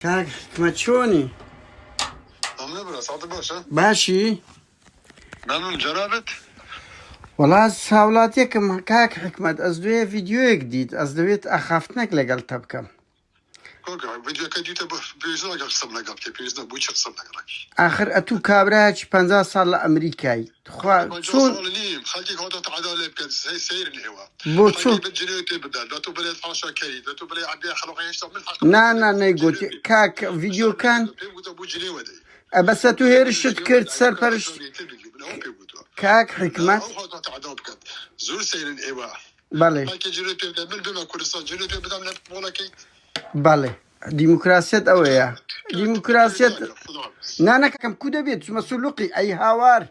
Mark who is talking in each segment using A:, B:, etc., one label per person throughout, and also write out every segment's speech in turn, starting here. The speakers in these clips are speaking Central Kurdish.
A: کاک حکمە
B: چۆنی؟ باشی؟ مەمنون جەنابت؟ وەڵا
A: ساوڵاتێکم کاک حکمت ئەس دوێ ڤیددیوەک دیت ئەس دەوێت ئاخافتنەک لەگەڵ تە بکەم
B: ئاخر ئەتوو
A: کابراچ پ ساڵ لە ئەمریکای تخوا
B: چۆن بۆ چۆن نا نا نەیگوتی
A: کاک ڤیدیۆکان
B: ئەبەسە تو هێرشت
A: کرد سەرپەرشت کاک حکمت
B: زۆر سەیرن ئێوە بەڵێ بەڵێ
A: دیموکراسیەت ئەوەیە دیموکراسیەت نانەکەم کو دەبێت چمە سولوقی ئەی هاوار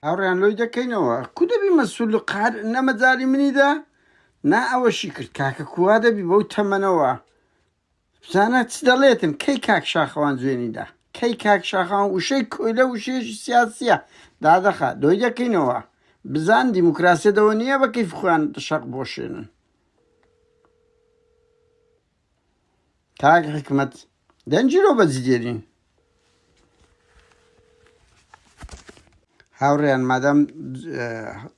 A: هاوڕیان لۆی دەکەینەوە کو دەبی مەسول و قار نەمەجای منیدا نا ئەوەشی کرد کاکە کووا دەبی بەو تەمەنەوە زانا چ دەڵێتن کەی کاک شاخەوان جوێنی دا کەی کاک شاخەوان وشەی کۆیلە وشەیەکی سیاسیە دادەخا دۆی دەکەینەوە بزان دیموکراسیە دەوە نیە بە کەیف خۆیان شەق بۆشێنن کاک حکمت دەنجیرۆ بەجدێرین هاوڕێیان مادام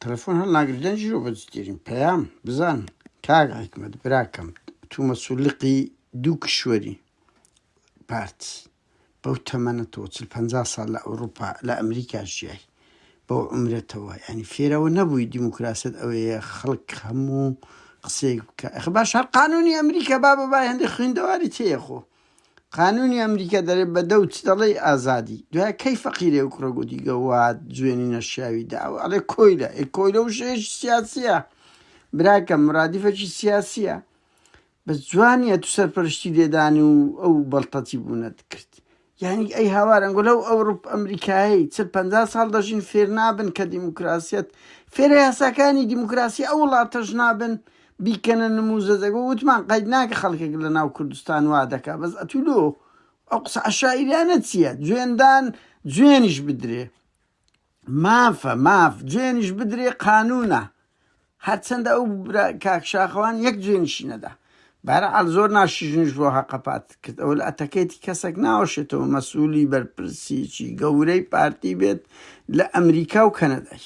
A: تەلەفۆن هەڵناگر دەنج و بەجدترین پەیام بزان کاگ حکمت براکەم تو مەسولقی دوو کشوەری پارت بەو تەمەنە تۆ چل پ سال لە ئەوروپا لە ئەمریکا ژیای بۆ عمرەتەوە ینی فێرەوە نەبووی دیموکراست ئەوەیە خەڵک هەموو قسەیەک بکە باش هەر قانونی ئەمریکا با بە بای هەندێک خوێندەواری تێخۆ قانونی ئەمریکا دەرێ بە دە و چ دەڵێی ئازادی دوای کەی فەقیرێ و کوڕە گوتی گەواد جوێنی نەشیاوی دا و ئەڵێ کۆیلە ئەی کۆیلە و شێش سیاسیە براکە مرادیفەکی سیاسیە بەس جوانیە تو سەرپەرشتی لێدان و ئەو بەڵتەتی بوونەت کرد یعنی ئەی هاوارەنگۆ لەو ئەوروپ ئەمریکایی چل پ ساڵ دەژین فێر نابن کە دیموکراسیت فێرە یاساکانی دیموکراسی ئەو وڵاتەش نابن بیکەنە نموزە دەگۆ وتمان قەید ناکە خەڵکێک لە ناو کوردستان وا دەکا بەس ئەتوو لۆ ئەو قسە عەشایریانە چیە جوێندان جوێنیش بدرێ مافە ماف جوێنیش بدرێ قانونە هەرچەندە ئەو برا کاک شاخەوان یەک جوێنیشی نەدا بەرعەل زۆر ناشیژنیش بۆ هەقەپات کرد ئەو لە ئەتەکێتی کەسێک ناوەشێتەوە مەسوولی بەرپرسیی گەورەی پارتی بێت لە ئەمریکا و کەنەدای